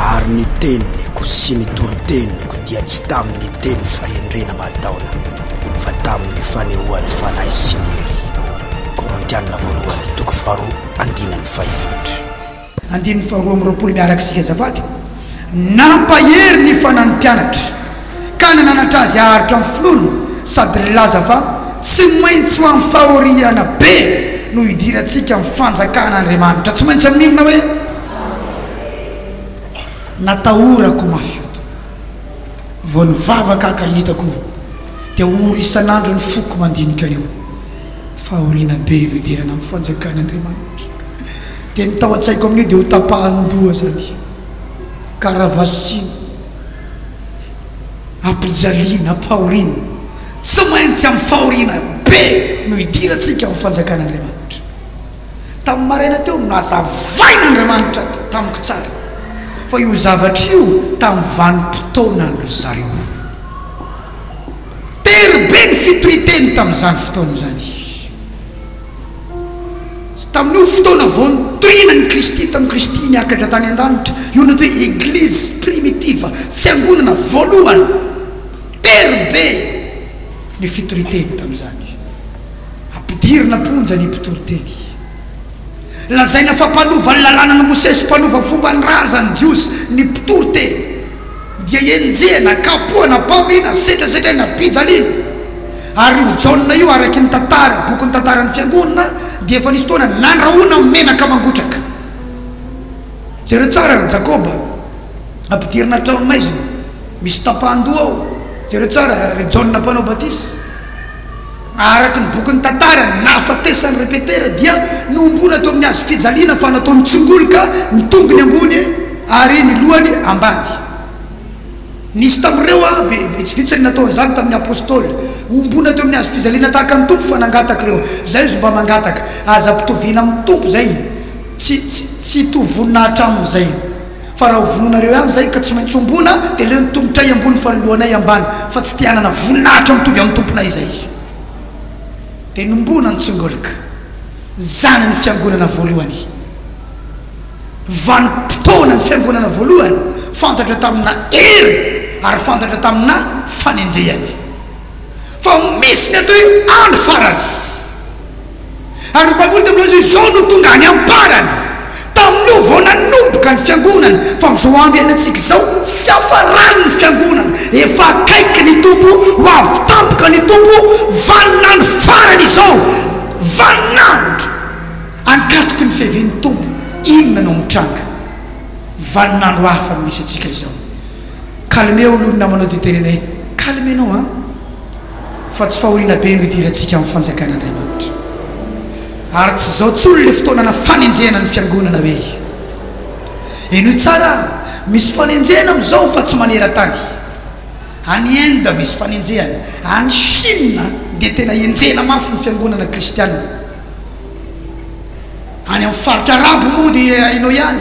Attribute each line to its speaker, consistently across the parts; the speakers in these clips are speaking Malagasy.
Speaker 1: Ary ny teniko sy ny toroteniko dia tsy tamin'ny teny fahendrena mataona, fa tamin'ny fanehoan'ny fanahy sy ny hery. Korintianina voalohany, toko faharoa, andininy fahefatra. Andininy
Speaker 2: faharoa amby roapolo miaraka isika azafady. Nampahery ny fanan'ny mpianatra ka nananatra azy haharitra ny finoana sady nilaza fa tsy maintsy ho amin'ny fahoriana be no hidirantsika amin'ny fanjakan'Andriamanitra. Tsy maintsy amin'ny inona hoe? Natahorako mafy io tompoko. Vao nivavaka aho ka hitako dia ory isan'andro ny foko mandinika an'io. Fahoriana be no hidirana amin'ny fanjakan'Andriamanitra. Dia ny tao an-tsaiko amin'io dia ho tapahan-doha izany. Karavasina, ampijaliana, ampahoriana, tsy maintsy amin'ny fahoriana be no idirantsika ho fanjakan'Andriamanitra. Tamin'ny maraina teo no nazavain'Andriamanitra tamiko tsara fa io zavatra io tamin'ny vanim-potoanan-dry zareo. Tery be ny fitorian-teny tamin'izany fotoana izany. Tsy tamin'io fotoana vao niterena an'i Kristy tamin'i Kristy niakatra tany an-danitra io no toe Eglizy primitiva, fiangonana voalohany, tery be ny fitoriteny tamin'izany. Ampidirina am-ponja ny mpitory teny. Lazaina fa mpanova ny Lalànan'i Mosesy, mpanova fomban-drazan'ny Jiosy ny mpitory teny. dia enjehina, kapohana, paorina, sedrasedraina, pijaliana. Ary io Jaona io, araky ny tantara, bokin'ny tantaran'ny Fiangonana, dia efa nisy fotoana nandrahoina amin'ny menaka mangotraka. Jereo tsara ry Jakoba, ampidirina an-trano maizina, misy tapahan-doha ao, jereo tsara ry Jaona Mpanao Batisa. Araka ny bokin'ny tantara, ny nahafatesan'i Repetera dia nohomboana teo amin'ny hazo fijaliana fa natao nitsongoloka ny tongony ambony ary ny lohany ambany. Nisy tamin'ireo be, vitsivitsy ny natao an'izany tamin'ny Apostoly. Hohomboana teo amin'ny hazo fijaliana tahaka ny Tompo fa nangataka ireo. Izay izy mba mangataka, Aza ampitoviana amin'ny Tompo izay, tsy, tsy, tsy hitovy voninahitra aminy izay. Fa raha ho vonoinareo ihany izay ka tsy maintsy hombona, dia leo ny tongotray ambony fa ny lohanay ambany, fa tsy te hanana voninahitra mitovy amin'ny Tomponay izahay. Dia nombona ny tsongolika, zanany fiangonana voalohany. Vanim-potoana ny fiangonana voalohany, fantatra tamina hery ary fantatra tamina fanenjehana. Fa misy ny atao hoe andro farany. Ary ny Baiboly dia milaza hoe izao no tonga any am-parany, tamin'io vao nanomboka ny fiangonana, fa amin'izao andro iainantsika izao, fiafaran'ny fiangonana, efa akaiky ny Tompo, ho avy tampoka ny Tompo, vanin'andro farany izao, vanin'andro ankatoky ny fiavian'ny Tompo, inona no mitranga? Vanin'andro hafa no misy antsika izao. Calmeo aloha ny namanao dia tenenay, calme-nao an! fa tsy fahoriana be no idirantsika amin'ny fanjakana Andriamanitra. Ary tsy izao tsony ilay fotoanana fanenjehana ny fiangonana hoe. Henoy tsara a! Misy fanenjehana amin'izao fa tsy maneran-tany. Any Inde misy fanenjehana, any Chine dia tena enjehina mafy ny fiangonana kristianina. Any amin'ny faritra arabo moa dia hainao ihany.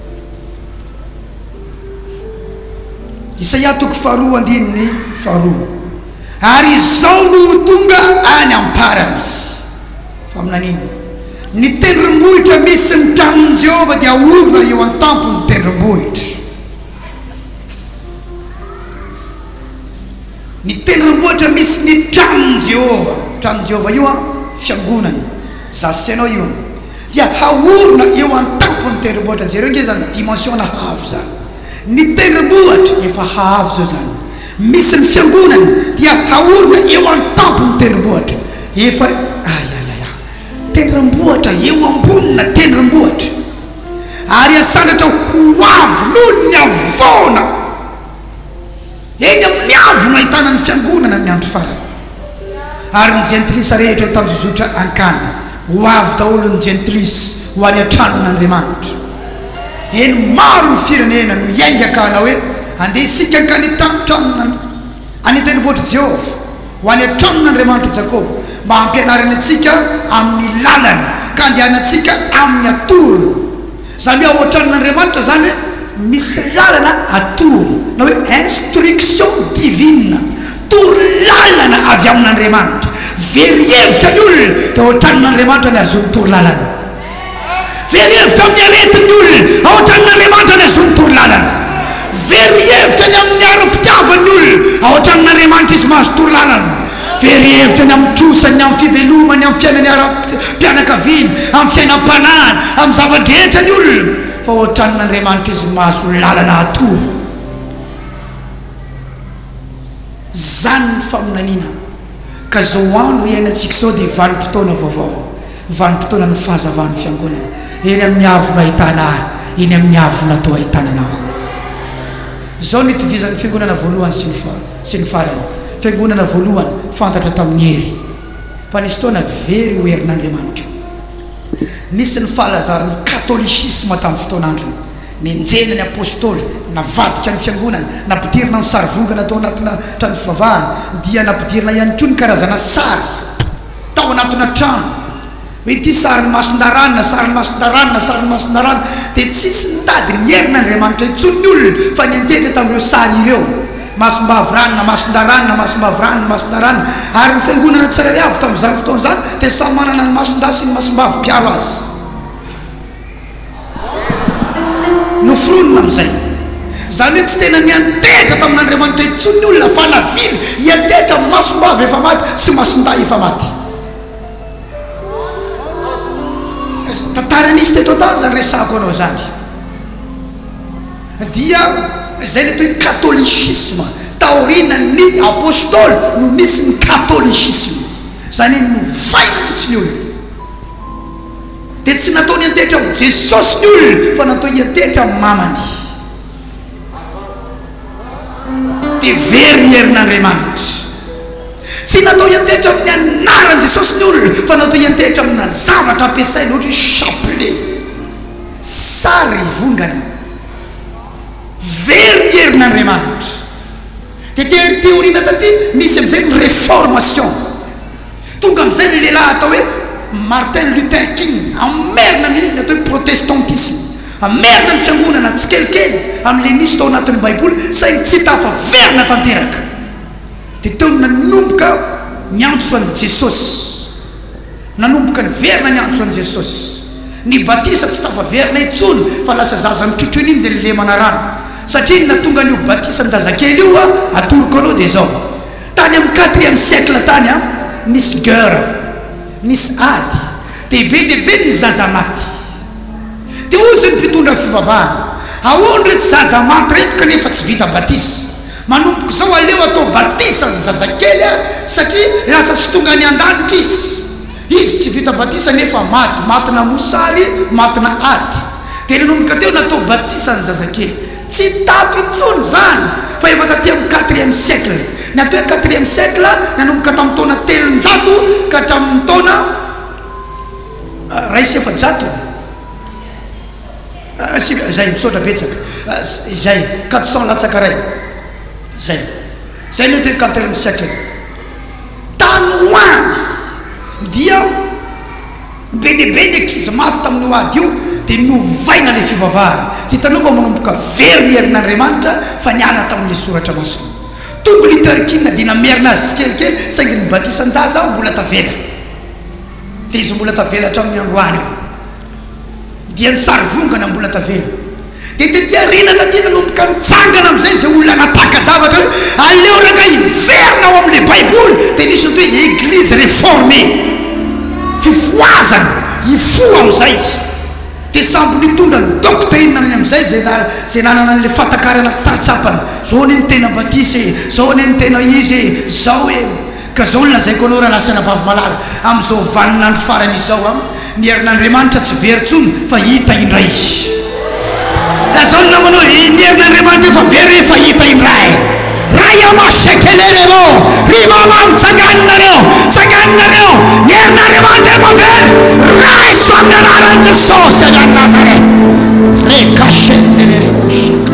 Speaker 2: Isaia toko faharoa andininy faharoa Ary izao no ho tonga any am-parany, faminaniana, ny tendrombohitra misy ny tranon'i Jehovah dia haorina eo an-tampon'ny tendrombohitra. Ny tendrombohitra misy ny tranon'i Jehovah, tranon'i Jehovah io an, fiangonany, za sy ianao io, dia haorina eo an-tampon'ny tendrombohitra. Jereo ange izany dimension nahaavo izany. Ny tendrombohitra efa haavo izao izany, misy ny fiangonany, dia haorina eo an-tampon'ny tendrombohitra. Efa, ayayaya, tendrombohitra, eo ambonina tendrombohitra. Ary asandratra ho avo noho ny havoana. Eny amin'ny haavo no ahitana ny Fiangonana amin'ny andro farany. Ary ny jentilisa rehetra hitanjozotra hankany, ho avy daholo ny jentilisa ho any an-tranon'Andriamanitra. Eny, maro ny firenena no hiainga ka hanao hoe, Andeha isika hankany an-tranon'Andriamanitra, any an-tendrombohitr'i Jehovah. Ho any an-tranony Andriamanitr'i Jakoba, mba hampianarany antsika amin'ny lalany, ka handehanantsika amin'ny atorony. Izany hoe ao an-tranon'Andriamanitra izany hoe misy lalana atorony, na hoe instruction divine, toro lalana avy amin'Andriamanitra. Very hevitra ny olona dia ao an-tranon'Andriamanitra no ahazoany toro lalana. Very hevitra amin'ny aretin'ny olona ahoatran'ny Andriamanitra ny azon'ny toro lalana. Very hevitra ny amin'ny ara-pitiavan'ny olona ahoatran'ny Andriamanitra izy mahazo toro lalana. Very hevitra ny amin'ny trosany, amin'ny fivelomany, amin'ny fiainany ara-pianakaviana, amin'ny fiainam-panahiny, amin'ny zava-drehetra ny olona fa hoatran'ny Andriamanitra izy mahazo lalana hatory. Izany ny faminaniana ka izao andro iainantsika izao dia vanim-potoana vaovao. Vanim-potoanan'ny fahazavan'ny Fiangonana eny amin'ny haavonao ahitana ahy, eny amin'ny haavonao toa ahitana anao koa. Izao no itovizan'ny Fiangonana voalohany sy ny sy ny farany, Fiangonana voalohany fantatra tamin'ny hery, fa nisy fotoana very ho herin'Andriamanitra. Nisy ny fahalazaran'ny katolisisma tamin'ny fotoan'androny. Nenjehina ny Apôstôly, navadika ny Fiangonana, nampidirina ny sarivongana tao anatina trano fivavahana, dia nampidirina ihany koa ny karazana sary. tao anatina trano hoe ity sarin'ny mason-daranona, sarin'ny mason-daranona, sarin'ny mason-daranona, dia tsisy nitady ny herin'Andriamanitra intsony ny olona fa niantehitra tamin'ireo sary ireo, masom-bavy ranona, mason-daranona, masom-bavy ranona, mason-daranona, ary ny fiangonana tsirairay avy tamin'izany fotoana izany dia samy manana ny mason-dahy sy ny masom-bavy mpiaro azy. Noforonina amin'izay. Izany hoe tsy tena niantehitra tamin'Andriamanitra intsony ny olona fa navily hiantehitra amin'ny masom-bava efa maty sy mason-dahy efa maty. Tantara nisy teto an-tany izany resahako anao izany. Dia izay ny atao hoe katolisisma. Taorianan'ny Apôstôly no nisy ny katolisisma. Izany hoe novaina mihitsy ny olona. dia tsy natao niantetra ho Jesosy ny olona fa natao hiantetra amin'ny mamany. Dia very ny herin'Andriamanitra. Tsy natao hiantetra amin'ny anaran'i Jesosy ny olona fa natao hiantetra amina zavatra ampiasaina ohatra hoe chapelet, sary vongana. Very ny herin'Andriamanitra. Dia te- teoriana taty misy amin'izay ny réformation. Tonga amin'izay ny lehilahy atao hoe Martin Luther King hamerina ny ny atao hoe protestantisma, hamerina ny fiangonana tsikelikely amin'ilay nisy tao anatin'ny Baiboly saingy tsy tafaverina tanteraka. Dia teo no nanomboka niantso an'i Jesosy, nanomboka niverina niantso an'i Jesosy. Ny batisa tsy tafaverina intsony fa lasa zaza mitrotro iny iny dia nilemana rano. Satria inona tonga an'io batisan'ny zazakely io atoroko anao dia izao, Tany amin'ny quatrième siècle tany an, nisy guerre, nisy ady, dia be dia be ny zaza maty. Dia hoy izay mpitondra fivavahana, ahoana ireto zaza maty ireto kanefa tsy vita batisa? Manomboka izao aleo atao batisa ny zazakely an, satria lasa tsy tonga any an-danitra izy. Izy tsy vita batisa nefa maty, matina mosary, matina ady. Dia nanomboka teo natao batisa ny zazakely. Tsy tato intsony izany fa efa taty amin'ny quatrième siècle. Ny atao hoe quatrième siècle nanomboka tamin'ny taona telonjato ka hatramin'ny taona iray sy efajato sy izay, misaotra betsaka, izay, quatre cents latsaka iray, izay. Izay ny atao hoe quatrième siècle. Tany ho any dia. Be dia be ny ankizy maty tamin'io ady io dia novaina ilay fivavahana. Dia hitanao fa manomboka very ny herin'Andriamanitra fa niala tamin'ilay soratra masina. Tombo liturgiana dia namerina azy tsikelikely saingy ny batisan-jaza mbola tavela. Dia izy mbola tavela hatramin'ny androany io. Dia ny sarivongana mbola tavela. Dia tety aoriana taty nanomboka nitsangana amin'izay izay olona nampaka-javatra hoe aleo rangahy hiverina ao amin'ilay Baiboly, dia nisy ny atao hoe Eglise reformée, fifohazana hifoha amin'izay, dia sambo nitondra ny doctrine any amin'izay izay izay nanana an'ilay fahatakarana tsatsapany, izao anie no tena batisa e, izao anie no tena izy e, izao e. Ka zao no lazaiko anao ranasy anabavy malala, amin'izao vanin'andro farany izao an, ny herin'Andriamanitra tsy very tsony fa hita indray izy. Lazao ny namanao hoe, ny herin'Andriamanitra efa very hoe efa hita indray. Ray ama shekelele ro, ry mama mitsanganinareo, tsanganinareo, ny herin'Andriamanitra efa very, raiso amin'ny anaran'i Jesosy avy any Nazareth. Rekashetelele ro shaka.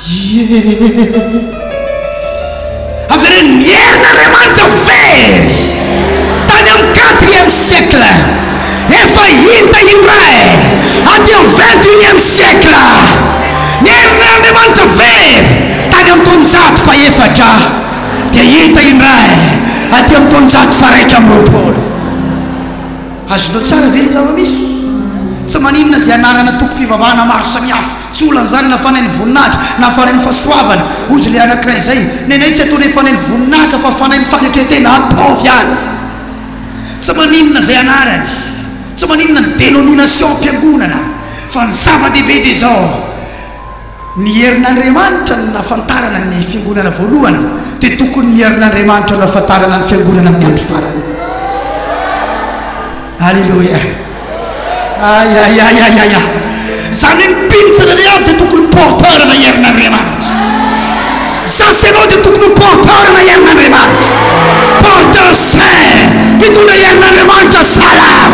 Speaker 2: Ieuuhh! Avereno mierina Andriamanitra very tany amin'ny quatrième siècle efa hita indray aty amin'ny vingt unième siècle mierina Andriamanitra very tany amin'ny taonjato fahefatra dia hita indray aty amin'ny taonjato faharaika amby roapolo azonao tsara ve ny zava-misy? Tsy maninona izay anarana tompom-pivavahana maro samihafa Tsy olana izany na fanain'ny voninahitra na fanain'ny fahasoavana, hoy izay le anankiray izay. Nenay tsy ataonay fanain'ny voninahitra fa fanain'ny fanetren-tena ataovy ihany. Tsy maninona izay anarany, tsy maninona ny denomination'mpiangonana fa ny zava-dehibe dia izao, ny herin'Andriamanitra no nahafantarana ny fiangonana voalohany dia tokony ny herin'Andriamanitra no ahafantarana ny fiangonana amin'ny andro farany. Aleloia. Ayayayaya! Zany hoe ny mpino tsirairay avy dia tokony ho porteur na herin'Andriamanitra. Za sy ianao dia tokony ho porteur na herin'Andriamanitra. Porteur saint, mpitondra herin'Andriamanitra salama.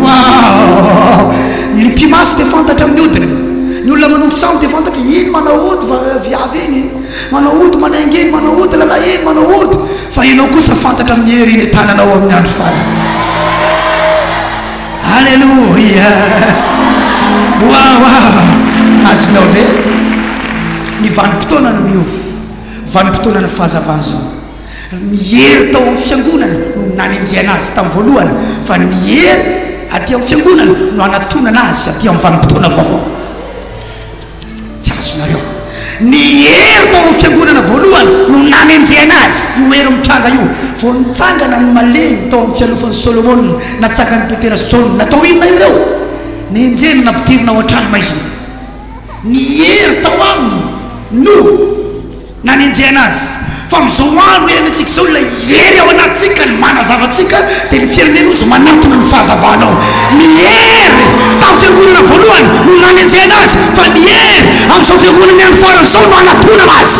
Speaker 2: Wow! Ny mpimasy dia fantatra amin'ny odiny. Ny olona manompo sambo dia fantatra, iny manao ody va- viavy iny, manao ody manainga iny, manao ody lalahy iny, manao ody. Fa ianao kosa fantatra amin'ny hery eny an-tananao amin'ny andro farany. Aleloia! Waouh! Azonao ve? Ny vanim-potoana no niova, vanim-potoanan'ny fahazavana izao. Ny hery tao amin'ny fiangonana no nanenjehana azy tamin'ny voalohany, fa ny hery aty amin'ny fiangonana no hanatonana azy aty amin'ny vanim-potoana vaovao. Tsy azonareo. Ny hery tao amin'ny Fiangonana voalohany no nanenjehana azy, io hery mitranga io. Vao nitsangana ny malemy tao amin'ny fialofan'i Solomona, natsangan'i Petera sy Jaona. Natao inona ireo? Nenjehina, nampidirina ao an-tranomaizina. Ny hery tao aminy no. Nanenjehana azy. Fa amin'izao andro iainantsika izao, ilay hery ao anatintsika, ny manazava antsika, dia ny firenena hozy manatona ny fahazavana ao. Ny hery tamin'ny fiangonana voalohany no nanenjehana azy, fa ny hery amin'izao fiangonana ihany farany izao no hanatonana azy.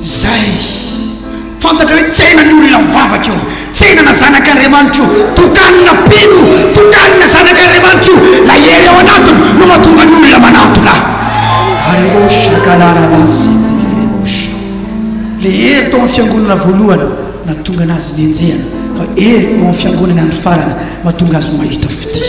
Speaker 2: Zay. Fantatrao hoe tsena ny olona mivavaka io. Tsena na zanak'Andriamanitra io. Tokanina mpino, tokanina zanak'Andriamanitra io. Ilay hery ao anatiny no mahatonga ny olona manatona. Areosha kalaraba sendelerebosha. Ilay hery tao amin'ny fiangonana voalohany nahatonga anazy nenjehana fa hery eo amin'ny fiangonany andro farany mahatonga azy mahita fitia.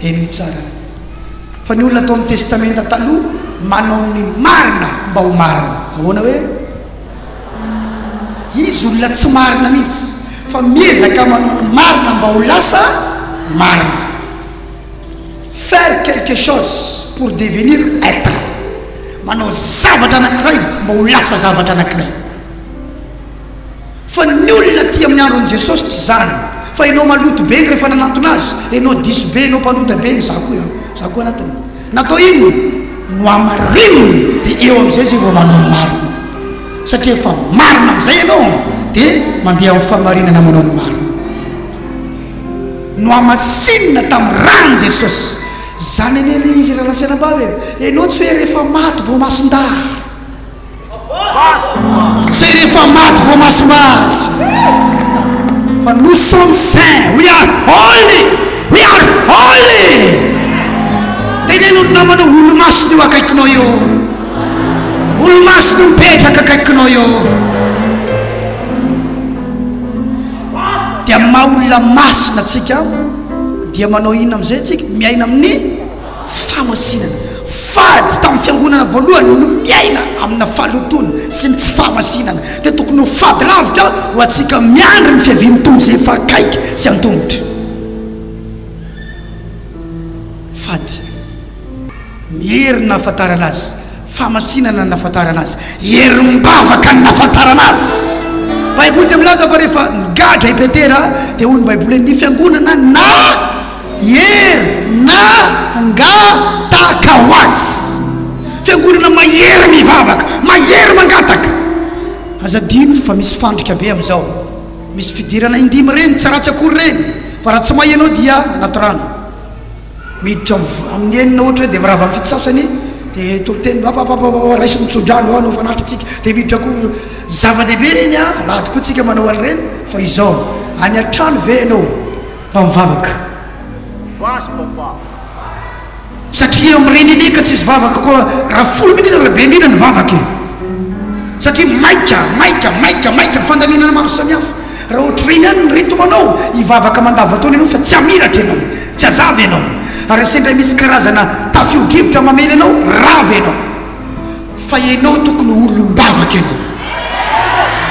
Speaker 2: Henoy tsara fa ny olona tao amin'ny Testamenta Taloha manao ny marina mba ho marina. Ahoana hoe? Izy olona tsy marina mihitsy fa miezaka manao ny marina mba ho lasa marina. Faire quelque chose pour devenir être. Manao zavatra anankiray mba ho lasa zavatra anankiray. Fa ny olona aty amin'ny andron'i Jesosy tsy izany fa enao maloto be ny rehefa nanantona azy, enao diso be, enao mpanota be ny za koa an, za koa anatiny. Natao inona? Nohamarininy dia eo amin'izay izay vao manao ny marina. Satria efa marina amin'izay enao an, dia mandeha amin'ny fahamarinana manao ny marina. Nohamasinina tamin'ny ran'i Jesosy. Zany anie le izy ry rahalahy sy anabavy e, enao tsy hoe rehefa maty vao masin-dahy. Zay rehefa maty vao masombavy fa nous sommes saints we are holy we are holy teneno ny namanao olomasina eo akaikinao eo olomasina mipetraka akaikinao eo dia maha olona masina atsika dia manao inona amizay atsika miaina amin'ny fahamasinana. Fady tamin'ny fiangonana voalohany ny miaina amina fahalotoana sy ny tsy fahamasinana, dia tokony ho fady lavitra ho antsika miandry ny fiavian'ny Tompo izay efa akaiky sy antomotra. Fady ny hery nahafantarana Azy. Famasinana ny nahafantarana azy. Herim-bavaka ny nahafantarana azy. Ny Baiboly dia milaza fa rehefa nigadra i Petera dia hoy ny Baiboly hoe ny fiangonana nahery nangataka ho azy. Fiangonana mahery mivavaka, mahery mangataka. Aza adino fa misy fandrika be amin'izao. Misy fidirana indimy ireny, tsy ratsy akory ireny, fa raha tsy may ianao dia anaty rano. Miditra amin'ny enina ohatra hoe dia mirava amin'ny fito sasany dia toriteny hoe apapapapapa raiso ny tsodrano hoan'ny fanahitritsika dia miditra koa zava-dehibe ireny a alahady koa tsika manao an'ireny fa izao any an-trano ve ianao mba mivavaka Vazo papa satria mirenene ka tsisy vavaka koa raha folo minitra raha be indrindra ny vavaka e satria maika maika maika maika ny fandalinana maro samihafa Raha ohatr'ireny ihany ny ritmanao, hivavaka mandavantaona ianao fa tsy hamiratra ianao, tsy hazava ianao, ary sendra misy karazana tafiodrivotra mamely anao, rava ianao. Fa ianao tokony ho olom-bavaka ianao.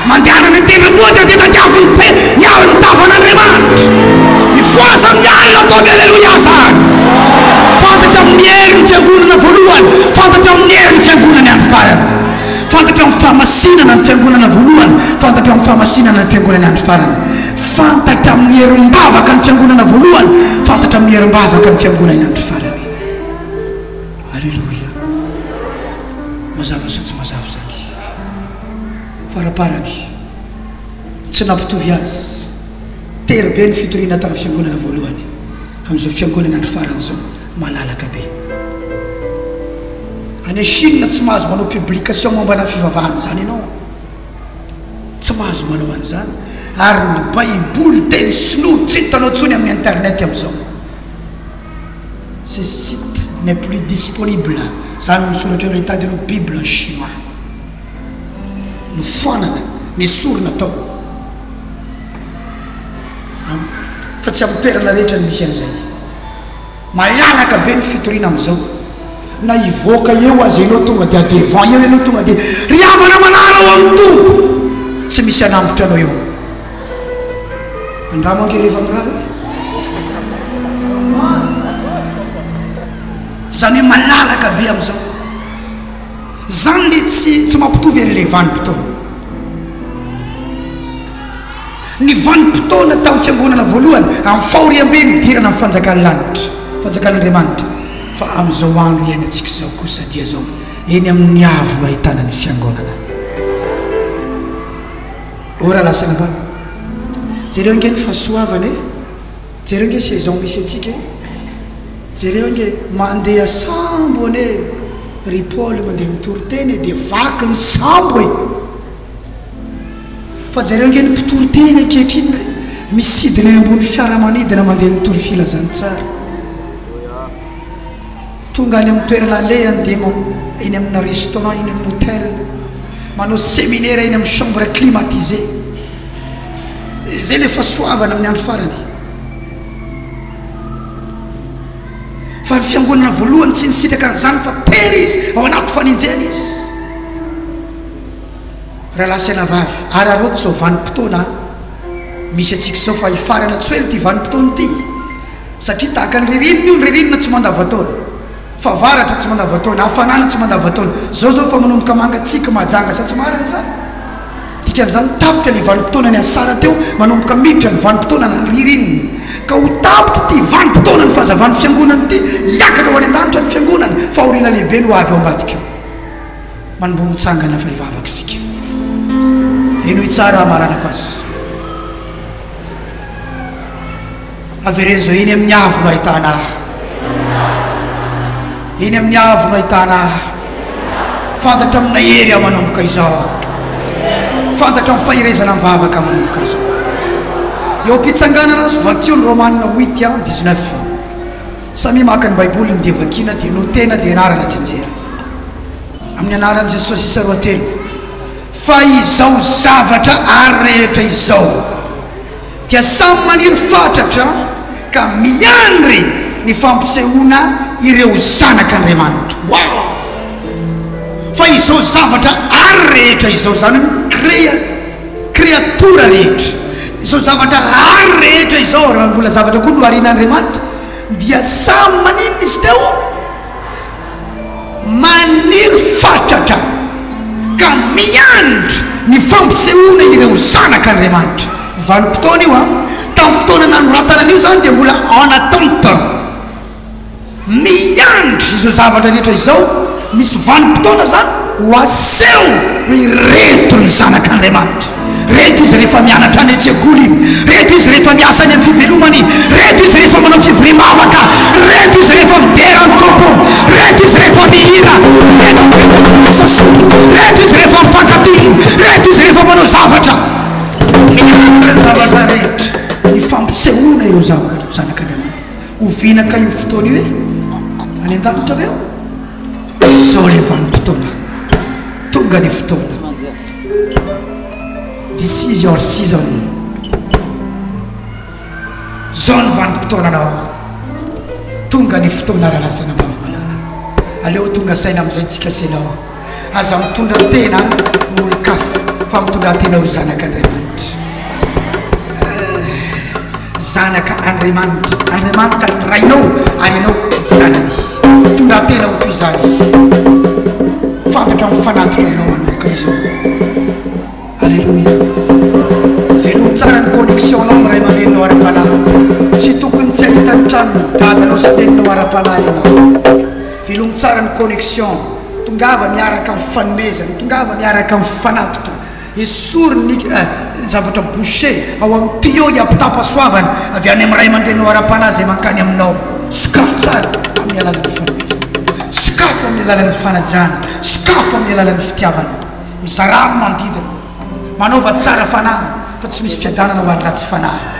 Speaker 2: Mandehana any an-tendrombohitra dia tadiavo ny te, ny alin'ny tavan'Andriamanitra. Mifohaza amin'ny alina, ataovy Aleloia izany. Fantatra amin'ny hery ny fiangonana voalohany, fantatra amin'ny hery ny fiangonany andro farany. Fantatra amin'ny fahamasinana ny Fiangonana voalohany, fantatra amin'ny fahamasinana ny Fiangonany andro farany. Fantatra amin'ny herim-bavaka ny Fiangonana voalohany, fantatra amin'ny herim-bavaka ny Fiangonany andro farany. Aleloia. Mazava sa tsy mazava izany? Faraparany, tsy nampitovy azy tery be ny fitoriana tamin'ny Fiangonana voalohany, amin'izao Fiangonana andro farany izao. malalaka be. Any Chine tsy mahazo manao publication mombana ny fivavahana izany ianao. Tsy mahazo manao an'izany. Ary ny baiboly teny sinoa tsy hitanao intsony amin'ny internet amin'izao. Ce site n'est plus disponible, izany no misoratra eo ilay tady ianao bible en chinois. Nofoanana, nesorina tao. Fa tsy amin'ny toerana rehetra no misy an'izay. Malalaka be ny fitoriana amizao na hivoaka eo aza enao tonga dia devant eo enao tonga dia ry havana malala ao aminy Tompo tsy misy hanambotra anao eo andramo ange rehefa mirary hoe zany hoe malalaka be amizao zany le tsy tsy mampitovy any le vanim-potoana. Ny vanim-potoana tamin'ny fiangonana voalohany amin'ny fahoriambe nidirana ny fanjakan'ny lanitra, fanjakan'Andriamanitra, fa amin'izao andro iainantsika izao kosa dia izao, eny amin'ny avo no ahitana ny fiangonana. Oh raha lasa nambany! Jereo ange ny fahasoavana e! Jereo ange saison misy antsika e! Jereo ange mandeha sambo anie ry Paoly mandeha mitoriteny e, dia vaky ny sambo e! Fa jereo nge ny mpitory teny ankehitriny re, misidina eny ambony fiaramanidina mandeha mitory filazantsara. Tonga any amin'ny toerana alehany dia man, eny amina restaurant, eny amin'ny hotel, manao seminera eny amin'ny chambre climatisé. Izay le fasoavana amin'ny andro farany. Fa ny fiangonana voalohany tsy nisitraka an'izany fa tery izy ao anaty fanenjehana izy. Rahalahy sy anabavy, araraoty izao vanim-potoana misy antsika izao fa hifarana tsy ho ela ity vanim-potoana ity satria tahaka ny ririnina io, ny ririnina tsy mandavan-taona, fahavaratra tsy mandavan-taona, hafanana tsy mandavan-taona, izao izao efa manomboka mangatsiaka, mahajanga sa tsy marina izany? Dikan'izany tapitra ilay vanim-potoanan'i Asara teo, manomboka miditra ny vanim-potoanana ririnina ka ho tapitra ity vanim-potoanan'ny fahazavan'ny fiangonana ity, hiakatra ho any an-danitra ny fiangonana, fahoriana lehibe no ho avy ao ambadika ao. Manomboha mitsangana fa hivavaka isika. Henoy tsara hamaranako azy. Avereno izao, eny amin'ny avo no ahitana ahy. Eny amin'ny avo no ahitana ahy. Fantatra amina hery aho manomboka izao. Fantatra amin'ny faherezana amin'ny vavaka manomboka izao. Eo am-pitsanganana azy, vakio ny Romanina huit an, dix-neuf. Samia maka ny baiboly ny dia vakiana dia notena dia anarana tsinjera amin'ny anaran'i Jesosy isa roa telo fa izao zavatra ary rehetra izao dia samy maniry fatratra ka miandry ny fampisehoana ireo zanak'Andriamanitra waouh fa izao zavatra ary rehetra izao zany hoe créa Kreatora rehetra, izao zavatra rariny rehetra izao, raha mbola zavatra koa nohariana Andriamanitra, dia samy maninona izy teo? Maniry fatratra ka miandry ny fampisehoana ireo zanak' Andriamanitra. Vanim-potoana io an! Tamin'ny fotoana nanoratana an'io izany dia mbola en attente. Miandry izao zavatra rehetra izao, misy vanim-potoana izany ho aseho hoe ireto ny zanak' Andriamanitra, ireto izy rehefa mianatra any an-tsekoly, ireto izy rehefa miasa any amin'ny fivelomany, ireto izy rehefa manao fivoriam-bavaka, ireto izy rehefa midera ny Tompo, ireto izy rehefa mihira, ireto izy rehefa mandroso soa, ireto izy rehefa mifankatia, ireto izy rehefa manao zavatra. Miandry ny zavatra rehetra, ny fampisehoana ireo zavatra, ny zanak' Andriamanitra. Ho vina kay io fotoana io e! Any an-danitra ve aho? Izao ilay vanim-potoana. Tonga ny fotoana. This is your season. Izao ny vanim-potoananao. Tonga ny fotoana raha lasa nambavy malala. Aleo ho tonga saina amin'izay tsy kasainao. Aza mitondra tena ho olon-kafa fa mitondratena ho zanak' Andriamanitra. Zanaka Andriamanitra. Andriamanitra ny Rainao ary ianao zanany. Mitondratena ho toy izany. Fantatra amin'ny fanatitra ianao manokana izao. Alléluia. Velomy tsara ny connexion-nao amin'ny ray aman-dreninao ara-panahy. Tsy tokony tsy hahita ny tranon'ny dadanao sy neninao ara-panahy ianao. Velomy tsara ny connexion. Tongava miaraka amin'ny fanomezana, tongava miaraka amin'ny fanatitra, esory ny zavatra bouché ao amin'ny tuyau hiampitampasoavana avy any amin'ny ray aman-dreninao ara-panahy izay mankany aminao. Sokafy tsara amin'ny alalan'ny fanomezana, sokafy amin'ny alalan'ny fanajana, sokafy amin'ny alalan'ny fitiavana. Mizarà amin'ny manodidina, manaova tsara fanahy, fa tsy misy fiadanana ho an'ny ratsy fanahy.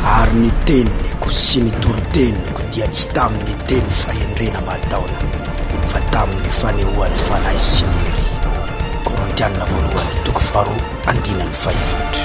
Speaker 1: Ary ny teniko sy ny toriteniko dia tsy tamin'ny teny fahendrena mataona, fa tamin'ny fanehoan'ny Fanahy sy ny hery. Korintiana Voalohany, toko faharoa, andininy fahefatra.